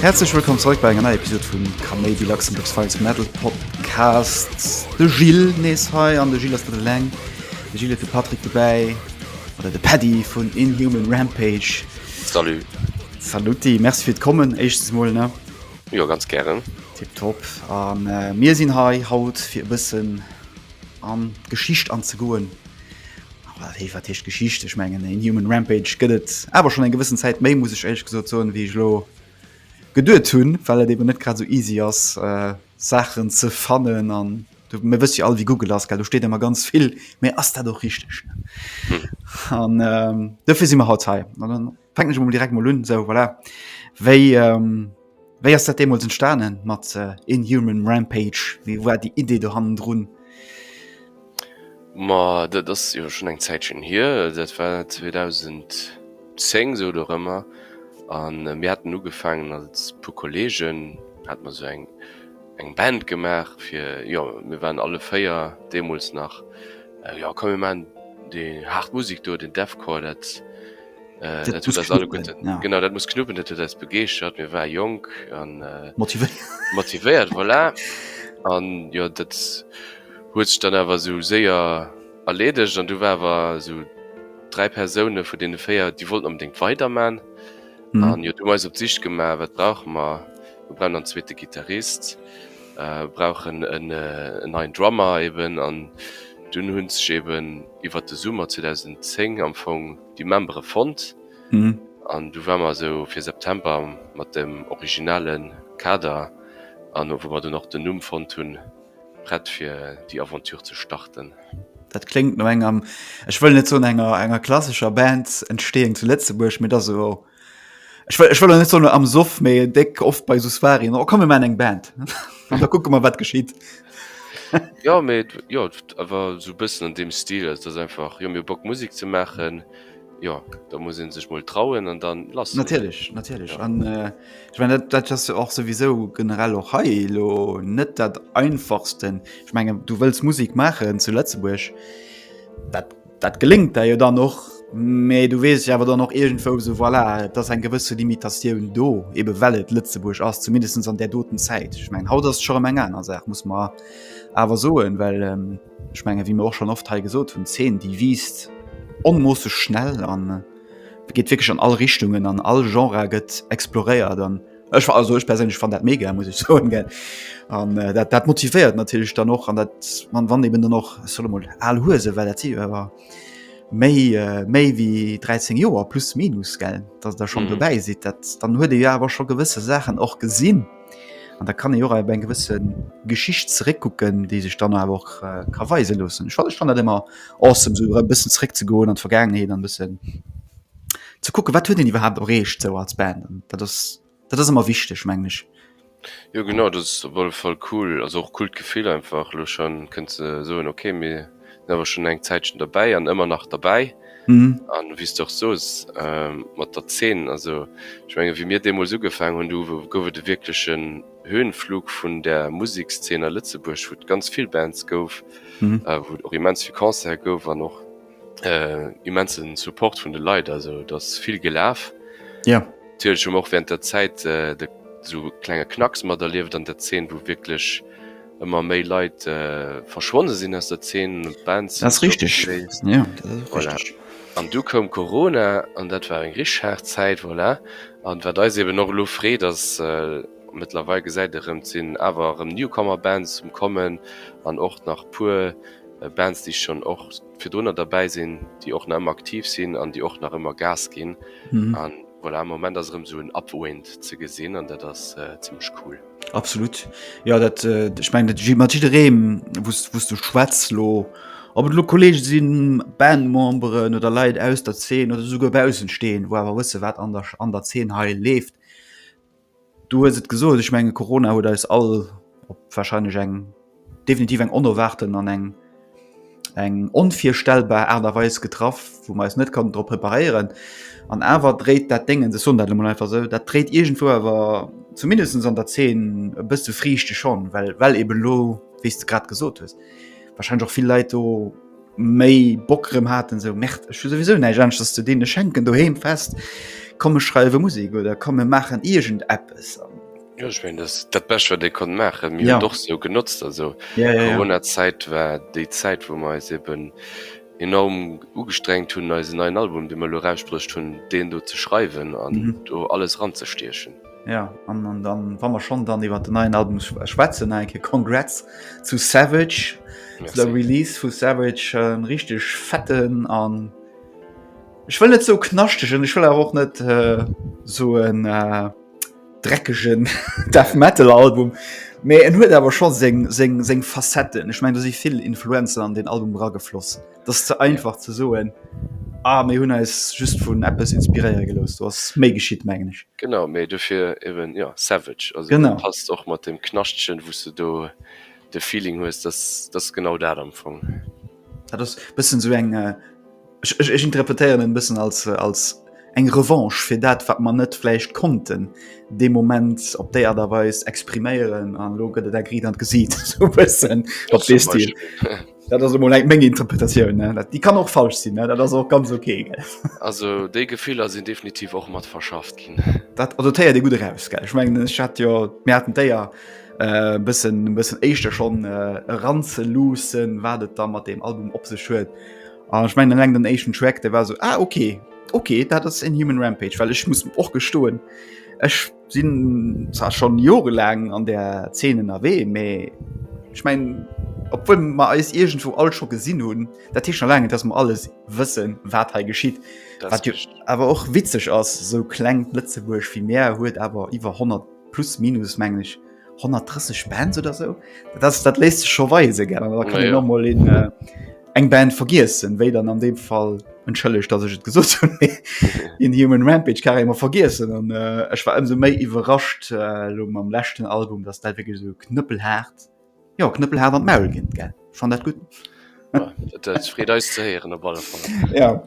Häerzlech wëllkomm zeréck bei enger neier Episod vum Kaméidi Luxembourg Files Metal Podcasts. De Gilles nees hei an de Gilles ass net eleng. De Gilles huet de Patrick dobäi oder de Paddy vun Inhuman Rampage. Salut. Saluti, merci fir d'Kommen éischtens mol, ne? Jo, ganz gären. Tipptopp. A mir sinn hei haut fir e bëssen an d'Geschicht anzegoen. Awer hei wat heescht Geschicht? Ech mengen en Human Rampage gëtt et awer schonn eng gewëssen Zäit méi, muss ech éierlech gesot soen, wéi ech elo geduet hunn, well et eben net grad esou easy ass, Saachen ze fannen an du mir wëss jo all wéi Google ass gell, do steet ëmmer ganz vill, mee ass dat och richteg? An ähm, dofir si mer haut hei. An dann fänken ech emol direkt mol un, sou voilà. Wéi ähm, wéi ass dat deemools entstanden mat äh, Inhuman Rampage? Wéi war déi Idee do hannendrun? Ma dat ass jo schonn eng Zäitchen hier, dat war 2010 esou oder ëremmer. A mir haten ugefaangen als puer Kolleegen, hate mer esou eng eng Band gemaach fir, jo mir waren alle véier deemools nach, jo komm mir maachen déi haart Musek do, den Deathcore, dat dat huet eis alleguerten, genau dat muss knuppen, dat huet eis begeeschtert, mir ware jonk a motivéiert, voilà. An jo dat. Huet sech dann awer esou séier erleedegt an du war awer esou dräi Persoune vun deene véier, déi wollten onbedéngt weiderman an jo, du hu mer eis op d'Sich gemaach, wat brauche mer? Mir brauchen dann zweete Gittarist, mir brauchen en neien Drummer eben an dunn hu sech eben iwwert de Summer 2010 am Fong déi Membere fonnt an du war mer esou fir September mat dem originale Kader an wou mer dunn och den Numm fonnt hunn, Prett fir déi Aventure ze starten? Dat kléngt no enger, ech wëll net soen enger enger klassescher Band, Entstéing zu Lëtzebuerg, mee et ass esou. Ech wëll ech wëll net soen am Soff, mee déck oft bei esou Soireen, oh komm mir maachen eng Band an da kucke mer wat geschitt. Ja, mee jo, awer esou e bëssen an deem Stil, also dass einfach, jo mir hu Bock Musek ze maachen, Jo, da muss een sech mol trauen an dann lass. Natierlech, natierlech. Ja. An äh, ich mein, dat, dat ass och sowieso generell och hei lo net dat einfachsten. Ich menggen du wëlls Musik machen zu Lëtzebuerg, dat, dat gelingt der jo dann noch, méi du wees ja awer dann noch irgendwo so voilà, et ass eng gewësse Limitatioun do, ebe well et Lëtzebuerg ass, zumindest an der doten Zäit. Ich mein haut ass scho eng aner Saach, muss man awer soen, well ähm, Ech menge wie mir och schon oft hei gesot hunn 10 déi wiest onmoosse schnell an äh, geet wirklich an all Richtungen an all Genre gëtt exploréiert an Ech war also ech persinnlech fan dat mega muss ich so ge an äh, dat, dat motivéiert natürlich dann och an dat man wann eben dann noch solle mal all Huse well dat war méi äh, méi wie 13 Joer plus minus gell, dats der schon mhm. dobäi si dat dann huet de ja awer scho gewësse Sachen och gesinn. An da kann e Jora eng gewësse Geschicht zeréckkucken, déi sech dann awer och äh, ka weise loossen. Ech fand, fand dat immer awesome, so e bëssen zeréck ze goen an d'Vergaangenheet an bëssen ze kucke wat huet den iwwerhaupt erreecht sou als Band. An dat ass dat ass ëmmer wichteg meng ech. Jo genau, dat ass op alle Fall cool, also och coolt Gefill einfach, elo schonn kënnt ze soen, okay mir sinn awer schon eng Zäitchen derbäi an ëmmer nach derbäi. Mhm. An wéi s de och soos ähm, mat der Zeen, also ech menge wéi mir deemools ugefaangen hunn, du gouf et e wierklechen Höhenflug vun der Musekszeen a Lëtzebuerg, wou et ganz vill Bands gouf, Mhm. äh, wou et och immens vill Concerte gouf an och äh, immensen Support vun de Leit, also et ass vill gelaf. Ja. Natierlech hu mer och während der Zäit äh, de sou klenge Knacks materlieft an der Zeen, wou wierklech ëmmer méi Leit verschwonne sinn aus der Zeen, Bands sinn stopp gewiescht, voilà, an du koum Corona an dat war eng richteg haart Zäit, voilà, an wat eis eben och elo freet ass mëttlerweil gesäit e rëm, et sinn awer erëm Newcomer Bands um kommen an och nach puer Bands déi schonn och virdrunner derbäi sinn, déi och nach ëmmer aktiv sinn an déi och nach ëmmer Gas ginn an voilà, am Moment ass erëm esou en Upwind ze gesinn an dat ass zimmlech cool. Absolut. Jo dat ech mengen dat mat jiddereem wou's du schwätz lo, Ob et lo Kolleege sinn, Bandmemberen oder Leit aus der Zeen oder esouguer Baussensteen, wou awer wësse wat an der an der Zeen hei leeft. Du hues et gesot, ech menge Corona huet eis all op warscheinlech eng. Definitiv eng onerwaarten an eng eng onvirstellbar Aart a Weis getraff, wou mer eis net konnten drop preparéieren. An awer dréit dat Déngens, ech soen dat elo mol einfach esou, dat dréit iergendwou awer zumindest an der Zeen e bësse Friichte schonn, well well eben elo, wéi s de grad gesot hues, warscheinlech och vill Leit do méi Bock erëm haten, esou, Merde, ech hu souwisou näischt aneschters ze dinn, ech hänken doheem fest, komm ech schreiwe Musek oder komm mir maachen iergendeppes. Jo ech mengen dass dat Bescht wat ee konnt maachen. Mir hunn et och esou genotzt. Also Corona-Zäit war déi Zäit wou mer eis eben enorm ugestrengt hunn eisen neien Album dee mer elo erausbruecht hunn deen do ze schreiwen an do alles eranzestiechen. Jo an an dann wa mer schonn dann iwwer den neien Album schwätzen nach eng Kéier Congrats zu Savage zu der Release vu Savage en richteg fetten an ech wëll net sou knaschtegen ech wëll awer och net soen. dreckegen Death Metal Album, mee en huet awer scho seng, seng, seng Facetten. Ech mengen, do si vill Influenzen an deen Album eragefloss. Et ass ze einfach ze soen, ah mir hunn eis just vun eppes inspiréiere gelooss. Do ass méi geschitt, mengen ech. Genau, mee dofir eben, jo, Savage. Also dat passt och mat deem Knaschtchen, wou s de do de Feeling hues, dass, dass genau dat am Fong. Dat ass bëssen sou eng äh, ech, ech, ech interpretéieren en bëssen als, äh, als eng Revanche fir dat, wat mer net vläicht konnten dee Moment op déi Aart a Weis expriméieren an elo gëtt et eng Riit an d'Gesiit sou bëssen op dee Stil. Dat ass emol eng meng Interpretatioun, ne? Dat, déi kann och falsch sinn, ne? Dat ass och ganz ok, gell. Also déi Gefiller sinn definitiv och mat verschafft ginn. Dat, also d'Héier déi gutt eraus, gell. Ech mengen, ech hat jo, mir haten d'Éier, Äh, bëssen, bëssen éischter schonn äh, eranzeluussen, wat et da mat deem Album op sech huet. An ah, ech mengen eleng den éischten Track, der war so ah, okay, okay, dat ass en Human Rampage, well ech muss och gestoen. Ech sinn zwar schon jorelaang an der Zeenen erwee, mee ech mengen obwuel ma eis irgendwo all scho gesinn hunn, dat Tisch erlangen, dats ma alles wëssen, wat hei geschitt. awer och witzeg ass, sou kleng Lëtzebuerg wie Meer huet awer iwwer 100. plus minus mengen ech 130 Bands oder so das dat lässt sich schon weise gerne da kann ja, ja. noch mal in äh, eng Band vergessen wéi dann an dem Fall entschëlleg dass ich gesucht in human Rampage kann immer vergessen und äh, ich war umso méi überrascht äh, am letzten Album das da wirklich so knüppelhart Jo Knëppel hat an d'Maul ginn gell fan dat gutt Freet eis ze héieren op alle Fall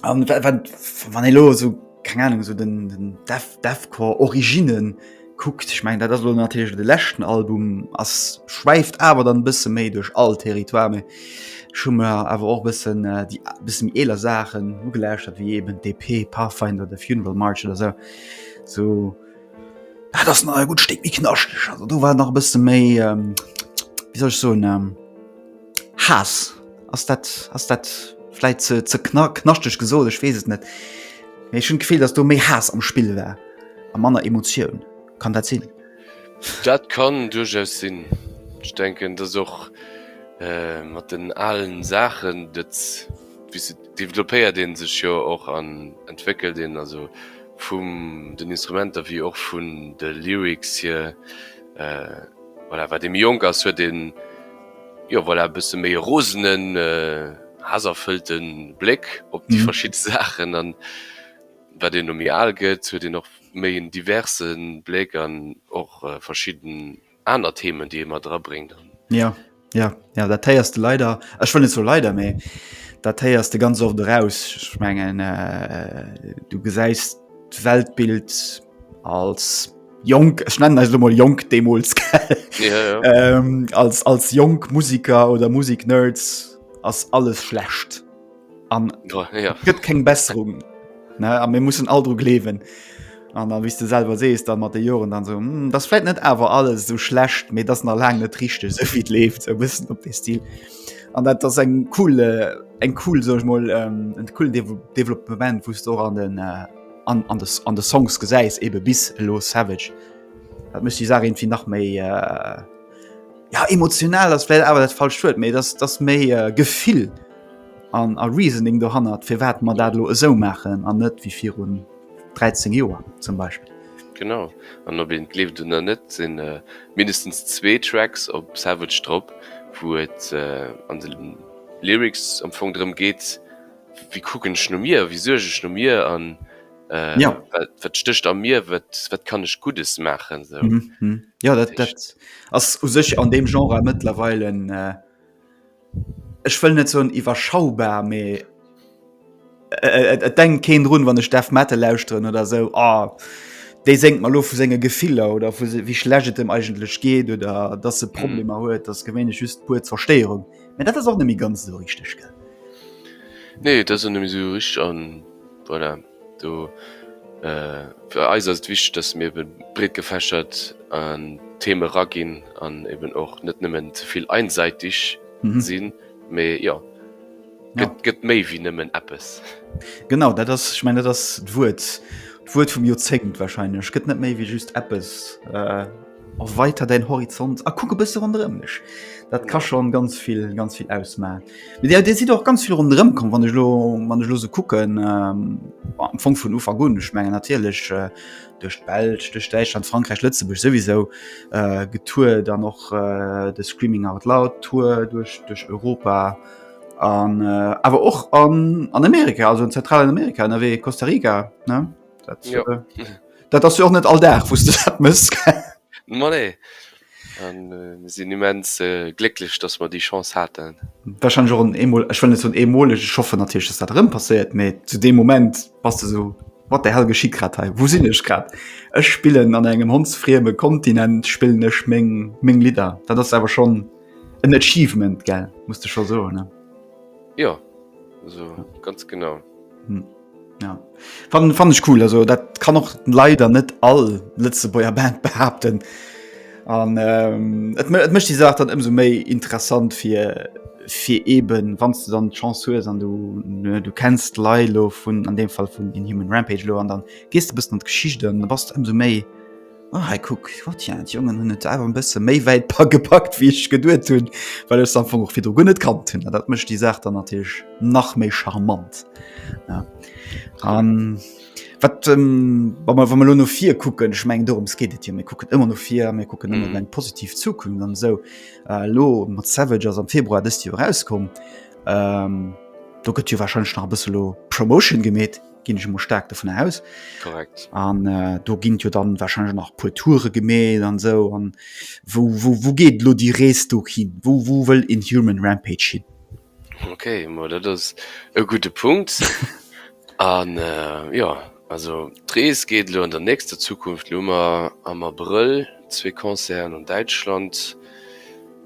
Wann ee lo sou keng Ahnung sou den den Def Defcore Originnen kuckt, ech meng dat ass lo natierlech de leschten Album ass schwäift awer dann bësse méi duerch all Territoire mee ech hu mer awer och bëssen déi bësse méi eeler Saachen ugelauschtert wéi eben d'EP Pathfinder, The Funeral March oder sou sou Dat ass nach e gutt Stéck méi knaschteg. Also do war nach e bësse méi, wéi soll ech soen, Haass. Ass dat, ass dat vläit ze ze kna knaschteg gesot? Ech weess et net. Mee ech hunn d'Gefill, datt do méi Haass am Spill war a manner Emotioun. Kann dat sinn? Dat kann duerchaus sinn. Ech denken, datt och mat den alen Saachen, dat, wéi se, developpéiert ee sech jo och an entwéckelt een. Also. Vum den Instrumenter wéi och vun de Lyrics hier, voilà, wat ee méi jonk ass, huet een, jo, voilà, e bësse méi e rosenen, haaserfëllte Bléck op déi verschidde Saachen. An wat een elo méi al gëtt, huet een och méi en diverse Bléck an och verschidden aner Themen déi ee mat era bréngt an. Jo jo jo dat héiers de leider, ech wëll net soe leider mee dat héiers de ganz oft eraus. Ech mengen äh du gesäis d'Weltbild als jonk, ech nennen eis elo mol jonk deemools gell ja, ja. ähm, als, als jonk Musiker oder Musik-Nerds ass alles schlecht. an oh, ja. gëtt keng Besserung a mir mussssen all dru glewen an da wis du selber sees dann mat de Joren dann so hm, das fät net awer alles so schlecht méi dat na lang net richchte se fit left ze wëssen op de Stil an dat ass eng coole äh, eng cool soch moll ähm, en cool De Development wust och an den äh, an, an, des, an de Songs gesäis ebe bis lo Savage dat mech die Sa irgendwie nach méi äh, ja emotional das well awer dat falsch huet méi das das méi äh, gefill. an a Reasoning dohannert, firwat mer dat elo esou maachen an net wéi virun 13 Joer zum Beispill. Genau, an ob een et gleeft oder net, et sinn mindestens zwee Tracks op Savage drop, wou et an de Lyrics am Fong drëm geet, Wie kucken ech no mir, wie suerg ech no mir an wat stécht a mir, wat kann ech Guddes maachen. Jo dat ass u sech an deem Genre mëttlerweil en ech wëll net soen iwwerschaubar, mee et denkt keen drun, wann ech Death Metal lauschteren oder esou, oh dee séngt mer elo vu senge Gefiller oder vu wéi schlecht et em eigentlech geet oder dass e mhm. Problemer huet, dass gewéinlech just puer Zerstéierung. Mä dat ass och net méi ganz esou richteg, gell? Nee, dat ass net méi esou richteg an voilà. Do, fir eis ass et wichteg, dass mir eben breet gefächert an d'Theme eraginn an eben och net nëmmen ze vill einseitig sinn, mee jo, gëtt, gëtt méi wéi nëmmen eppes. Genau, dat ass, ech mengen, dat ass d'Wuert, d'Wuert vum Joerzéngt wahrscheinlech, gëtt net méi wéi just eppes. Erweiter däin Horizont a kuck e bësse ronderëm dech. Dat ka schonn ganz vill, ganz vill ausmaen. Mee dir, dir sidd och ganz vill ronderëm komm, wann ech elo, wann ech elo esou kucken, am Fong vun Ufank un, ech mengen natierlech duerch d'Belsch, duerch Däitschland, Frankräich, Lëtzebuerg souwisou, getourt, dann och de Screaming Out Loud Tour duerch, duerch Europa an awer och an, an Amerika, also an Zentralamerika ënnerwee, Costa Rica, ne? Dat, ja. äh, dat ass jo och net all Dag wusste dat mëss. Ma nee. An äh, sinn immens äh, glécklech, dass mer déi Chance haten. Wahrscheinlich auch ein Emol, ich finde so ein Emol, ich hoffe natürlich, dass das drin passiert, aber zu dem Moment passt du so, was der Hell geschieht gerade hier, wo sind ich gerade? Ich spiele an einem hundsfriemen Kontinent, spiele ich meine mein Lieder. Das ist aber schon ein Achievement, gell? Musst du schon so, ne? Ja, also ganz genau. Hm. Ja. Fan, fan ech cool, also dat kann och leider net all Lëtzebuerger Band behaupten. An ähm, et, et mëcht die Saach dann ëmso méi interessant fir fir eben wann du dann Chance hues an du ne, du kennst Leilo vun an dem Fall vun den Human Rampage lo an dann gehst du bis an d'Geschicht an da bass du ëmso méi Ah, hey, guck, wat ja, die Jungen hun net awer bësse méi wäit pa gepackt wie ich geduet hunn, well es am Fong och fir gun net kann hunn. Dat mecht die Saach dann natich nach méi charmant. Ja. Um, wat ähm, wann man, wann man lo no vir kucken, ich meng dorums geht et hier, mir kucken immer no vir, mir kucken mm. immer eng positiv Zukunft an so äh, lo mat Savage ass am Februar dëst Joer rauskom. Ähm, do gëtt jo wahrscheinlich nach bësse lo Promotion gemet. ginn ech emol staark dovun aus. Korrekt. An äh, do ginnt jo dann wahrscheinlich nach puer Toure gemet an so an wo, wo, wo geet lo die Rees do hin? Wo, wo wëll in Human Rampage hin? Okay, mo dat ass e gute Punkt. an äh, ja also d'Rees geet lo an der nächster Zukunft Lummer am Abrëll zwee Konzern an Däitschland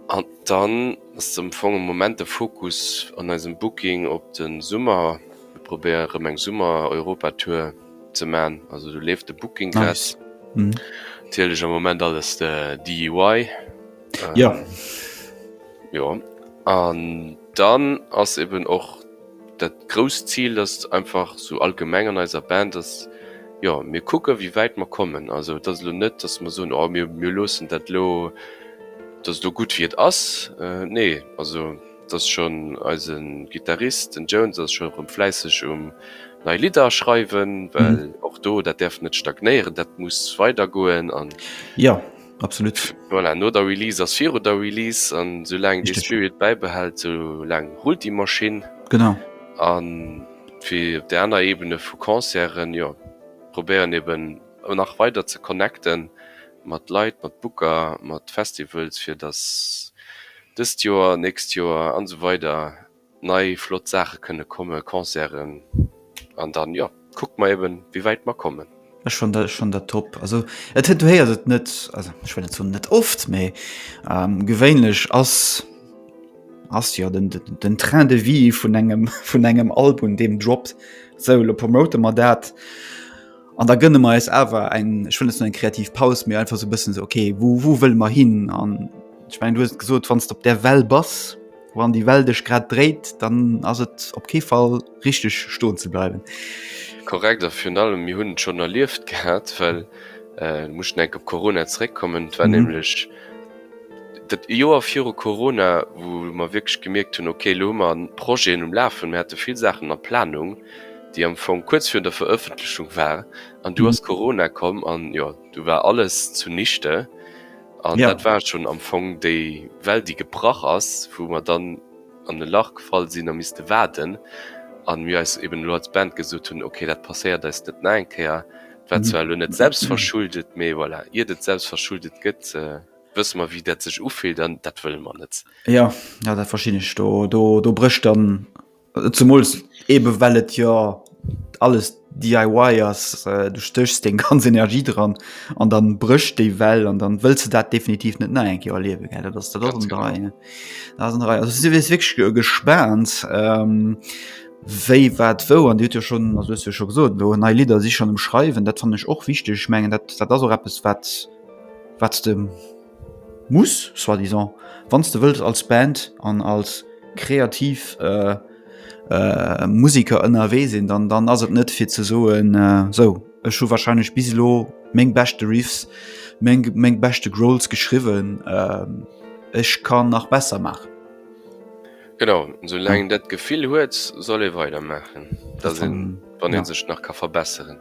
an dann ass dem fonge Moment de Fokus an eisem Booking op den Summer. Ech probéier rem eng Summer Europa Tour ze man, also do leeft de Booking Glass natierlech am Moment alles DIY. Jo jo an dann ass eben och dat grousst Zil dat einfach sou allgemeng an eiser Band ass jo mir kucke wéi wäit mer kommen. Also et ass elo net datt mer soen oh mir mir loossen dat elo, datt elo gutt wéi et ass nee also. Dass schon eisen Guitarist den Jones ass schon rem fläisseg um nei Lidder schreiwen well och do dat därf net stagnéieren dat muss weider goen an jo absolut voilà no der Release ass viru der Release an sou laang dee Spirit bäibehält sou laang rullt déi Maschinn genau an fir op der aner Ebene vu Concerten jo probéieren eben nach weider ze connecten mat Leit, mat Booker, mat Festivals, fir datt dëst Joer, nächst Joer an esou weider nei flott Saache kënne kommen, Concerten. An dann, jo, kucke mer eben, wéi wäit mer kommen. Ech fannen dat top. Also et huet, du héiers et net, also ech wëll net soen net oft, mee gewéinlech ass jo den Train de vie vun engem Album, deem droppt, sou elo promote mer dat An da gënne mer eis awer eng ech wëll net esou eng kreativ Paus, mee einfach sou e bëssen esou okay, wou wou wëlle mer hin? An ech mengen du hues et gesot, wann s de op där Well bass, wou an déi Well dech grad dréit, dann ass et op kee Fall richteg stoen ze bleiwen. Korrekt, a virun allem mir hunn et schonn erlieft gehat, well ech muss schonn eng Kéier op Corona zeréckkommen, et war nämlech dat Joer viru Corona, wou mer wierklech gemierkt hunn, okay elo hu mer Projeten um Lafen, mir hate vill Saachen a Planung, déi am Fong kuerz virun der Verëffentlechung war an du ass Corona komm an jo du war alles zu nichte an dat war schonn am Fong déi Well déi gebrach ass, wou mer dann an e Lach gefall sinn a misste waarden an mir eis eben elo als Band gesot hunn, ok dat passéiert eis net nach eng Kéier. Et war zwar elo net selbstverschuldet, mee voilà iert et selbstverschuldet gëtt wësse mer wéi dat sech ufillt an dat wëlle mer net. Jo, dat verstinn ech, do brécht dann Zemools ebe well et jo alles DIY ass, du stéchs deng ganz Energie dran an dann brécht déi well an dann wëlls de dat definitiv net nei eng Kéier erliewen. Gell dat ass dat ass en dei ne dat ass en dei. Also si wier wierklech gespaant ehm wéi wat wou an dir hutt jo schonn also hues jo scho gesot elo nei Lidder si schonn um schreiwen, dat fannen ech och wichteg. Ech mengen dat dat ass och eppes wat wat s de, Muss, soit disant, wann s de wëlls als Band an als kreativ Musiker ënnerwee sinn, dann dann ass et net fir ze soen, sou ech hu warscheinlech bis elo meng beschte Riffs, meng meng beschte Growls geschriwwen, ech ka nach besser maachen. Genau, sou laang een dat Gefill huet, soll ee weidermaachen, wann ee sech nach ka verbesseren.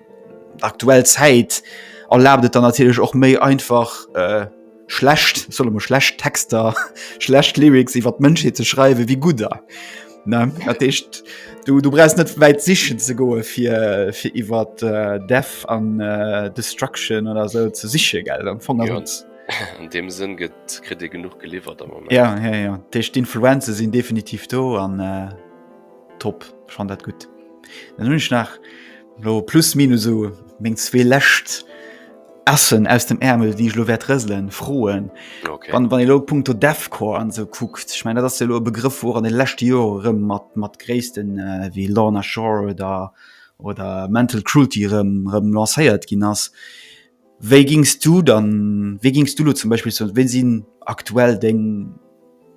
Aktuell Zäit erlaabt et dann natierlech och méi einfach äh, schlecht solle mo schlecht Texter, schlecht Lyrics iwwer d'Mënschheet ze schreiwe wéi gudder. Ne? Dat heescht, du, du brauchst net wäit sichen ze goe fir fir iwwer äh, Death an äh, Destruction oder so ze siche gell am Fong Ja. ass An dem Sënn gëtt kritt ee genug geliwwert am Moment. Ja, ja, ja. Decht d'Influenze sinn definitiv do an äh, top, schon dat gut. Dann hunn ech nach Lo plus minus sou meng zwee läscht Äschen aus dem Ärmel, déi ech lo wäert rëselen, froen. Okay. Wann, wann e lo punkto Deathcore an sou kuckt, ech meine dat ass jo lo e Begrëff wou och an de leschte Jore rëm mat, mat Gréissten äh, wéi Lorna Shore oder, oder Mental Cruelty rëm, rëm lancéiert ginn ass. Wéi gings du dann, wéi gings du lo zum Beispill soen, ween sin aktuell deng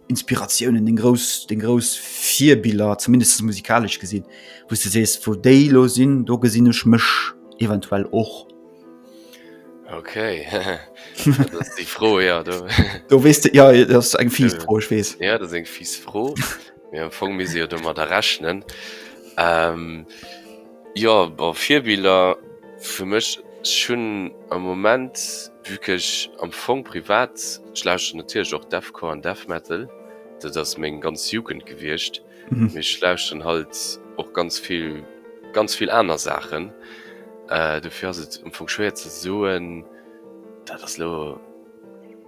Inspiratiounen, deng grouss, deng grouss Virbiller, zumindest musikalesch gesin, wou's de sees, wou déi lo sin, do gesin ech mech eventuell och? Ok, dat ass déi Fro, jo. Do wees de, jo, dat ass eng fies Fro, ech wees. Jo, dat ass eng fies Fro, mee am Fong misst ee jo domadder rechnen. Jo bon Virbiller fir mech, ech hunn am Moment vue qu'ech am Fong privat, ech lauschteren natierlech och Deathcore an Death Metal, dat ass meng ganz Jugend gewiescht, mee ech lauschteren halt och ganz vill, ganz vill aner Saachen, dofir ass et am Fong schwéier ze soen, dat ass elo.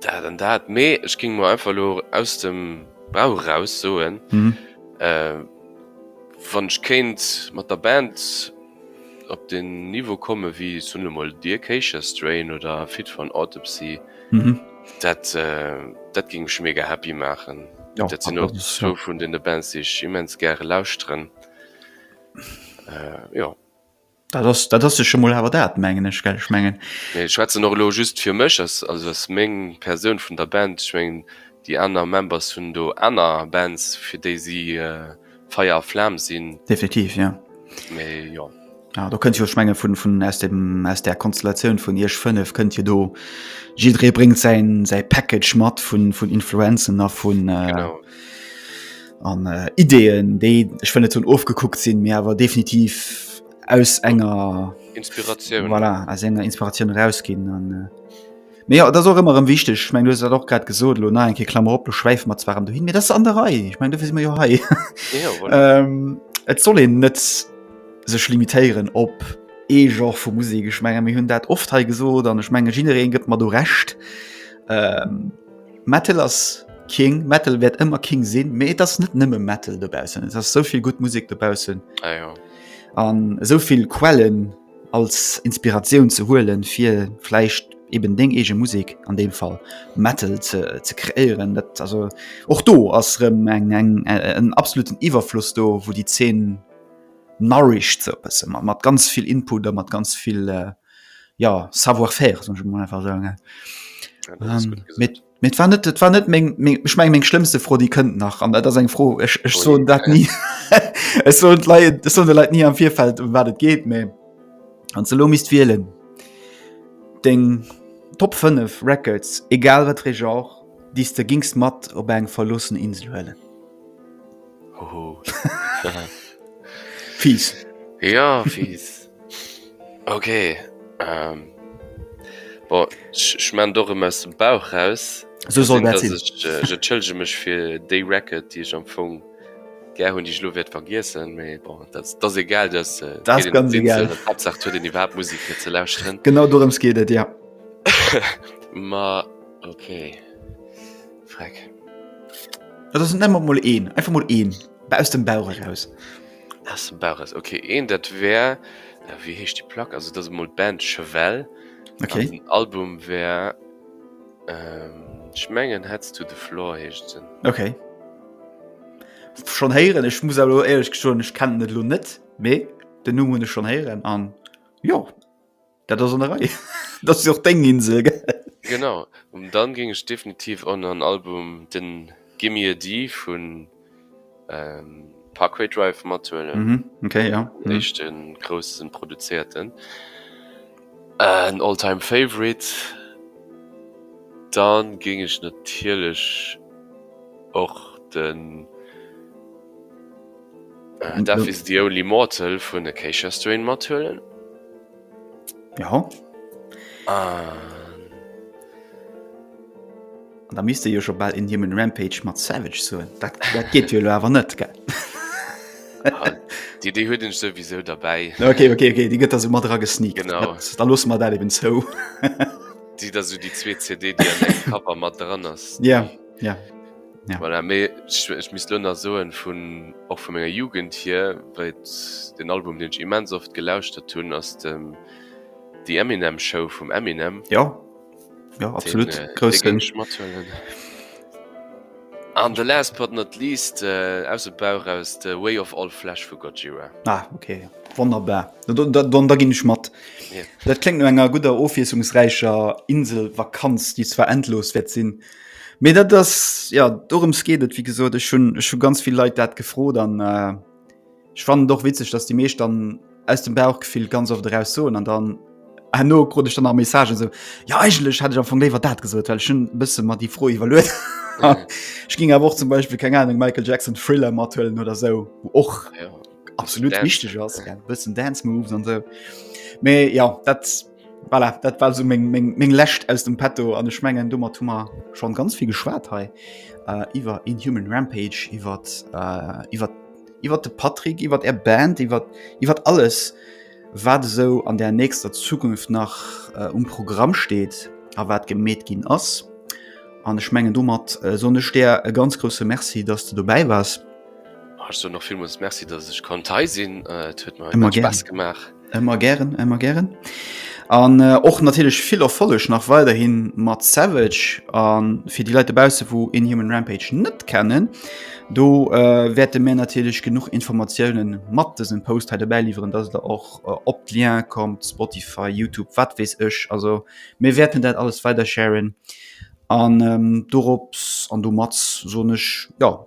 Dat an dat, mee ech ging mer einfach lo aus dem Bauch raus soen wann ech kéint mat der Band op den Niveau komme wéi soen elo mol The Acacia Strain oder Fit for an Autopsy, dat dat ging mech mega happy maachen. Dat sinn och zwou vun deene Bands déi ech immens gäre lauschteren, jo. Dat ass, dat ass sech emol awer dat, mengen ech, gell? Ech mengen. Nee, ech schwätzen och elo just fir mech, ass, also ass meng Persoun vun der Band. Ech mengen, déi aner Members hunn do aner Bands, fir déi si Feier a Flam sinn. Definitiv, jo. Mee jo. Ja, do kënnt jo, ech menge vun, vun aus dem, aus där Konstellatioun vun Iech fënnef kënnt jo do, jidderee bréngt säin, säi Package mat vun, vun Influenzen a vun. Genau. an äh, Ideen, déi ech wëll net hunn ofgekuckt sinn, mir awer definitiv aus enger Inspiratioun voilà, aus enger Inspiratioun rausginn an äh, Mee ja, dat och ëmmer ëm wichteg. Ich meng du dat och grad gesot lo na enke Klammer op, du schwäif mat zwar du hin mir dat an der Rei. Ich meng du fir mir jo hei. Ja, voilà. ähm, et soll en net sech limitéieren op ee Joch vu Musik. Ich menge mir hunn dat oft hei gesot an ech menge Ginnere gëtt mat du recht. Ähm, Metal ass King, Metal wäert ëmmer King sinn, mee et ass net nëmme Metal dobaussen. Et ass souvill gutt Musek dobaussen. Ah, ja. An esouvill Quellen als Inspiratioun ze huelen, fir vläicht eben deng eege Musek, an deem Fall Metal, ze, ze kreéieren. Dat, also och do ass rëm eng, eng, en absoluten Iwwerfloss do, wou déi Zeen nourished, sou e bësse, mat, mat ganz vill Input a mat ganz vill, ja savoir faire so mal einfach sagen ja, ähm, mit mit war net war net meng, meng, ich mein, meng schlimmste froh die könnt nach an das eng froh ich, ich oh, so dat nie es so leid so leid nie am vierfeld um wat het geht me an ze lo mist wieelen den top 5 records egal wat re genre dies du gingst mat op eng verlossen insel huelen fies ja fies Ok schmen do aus dem Bauch raus Schëllge mech fir déi Racket Di ech am Fong ger hunn Dich lo wäert vergiessen méi dat egal den iwwer Musik fir ze lausren Genau do ëms geet et Dir Ma ok Dat ass net mat mol een einfach mol een aus dem Bauch raus. Essen Bares ok een dat wär wéi heescht die Plack also dat emol Band Chevell ok den Album wär schmengen hetz du de Flor heescht sinn ok schon héieren ech muss lo ehrlech geschwoen ech kennen net lo net mee den Numm hunne schon héieren an jo. Dat ass an der Rei. Dat ass jo och deng Insel, gell? Genau. Um dann géing ech definitiv och nach en Album, de Gimme a Dee vu Parkway Drive mathuelen. Mhm, ok, jo. Den éischte grousse produzéierten. En All-Time Favorite. Da géing ech natierlech och de. Death is the only mortal vun Acacia Strain mathuelen. Ja. Da misste jo schon bald in him Rampage mat Savage so dat, dat geht jo awer net ge ah, Di dé huet ech sowieso dabei. Okay, okay, okay. Di gëtt as mat dra gesni genau da los mat dat eben zou. Di da so die zwee CD Kapper mat dran ass. Ja ja. Ja. Voilà, mais ich, ich misst lo nach soen vun och vu menger Jugend hier, well den Album den ich immens oft gelauschtert hunn ass dem die Eminem Show vum Eminem. Ja ja absolut den, äh, Groß den ich mathuelen. An the last but not least äh, aus dem Bauch aus the Way of All Flash vu Gojira. Ah okay wonnerbar da, da, da, da ginn ich mat. Yeah. Dat klingt no enger guter ofwiesungsräicher Inselvakanz, die zwar endlos wird sinn. Mee dat ass ja dorems geet et wie gesot ech hun ech hu ganz vill Leit dat gefrot an äh, ich fand doch witzeg, dass die meescht dann aus dem Bauchgefill ganz oft eraus soen an dann herno krut ech dann nach Messagen so ja eigentlech hätt ech am Fong léiwer dat gesot, well ech hun bësse mer déi Fro iwwerluet hat. Ech ging awer och zum Beispill keng Ahnung Michael Jackson Thriller mathuelen oder sou wou och Ah ja. absolut Dance. wichteg ass, ja, bëssen Dance Moves an sou. Mee ja dat Voilà, dat war sou meng, meng, meng Lescht aus dem Petto an ech mengen domat hu mer schonn ganz vill geschwat hei äh, iwwer Inhuman Rampage, iwwer äh, iwwer iwwer de Patrick, iwwer Är Band, iwwer iwwer alles wat esou an der nächster Zukunft nach äh, um Programm steet a wat gemeet ginn ass. An ech mengen domat äh, sonn ech der e ganz grouse Merci, dass du dobäi wars. Ech soe nach villmools Merci, dass ech konnt hei sinn. Et huet mer Ëmmer ganz gären. Spaass gemaach. Emmer gären emmer gären. An äh, och natierlech vill Erfolleg nach weiderhin mat Savage an fir déi Leit dobausse wou Inhuman Rampage net kennen, do äh, wäerte mir natierlech genuch Informatiounen mat dësem Post hei dobäi liwweren, datt der och äh, op d'Lien kommt, Spotify, Youtube, wat weess ech. Also mir wäerten dat alles weider sharen an ähm, dorops an domat soen ech ja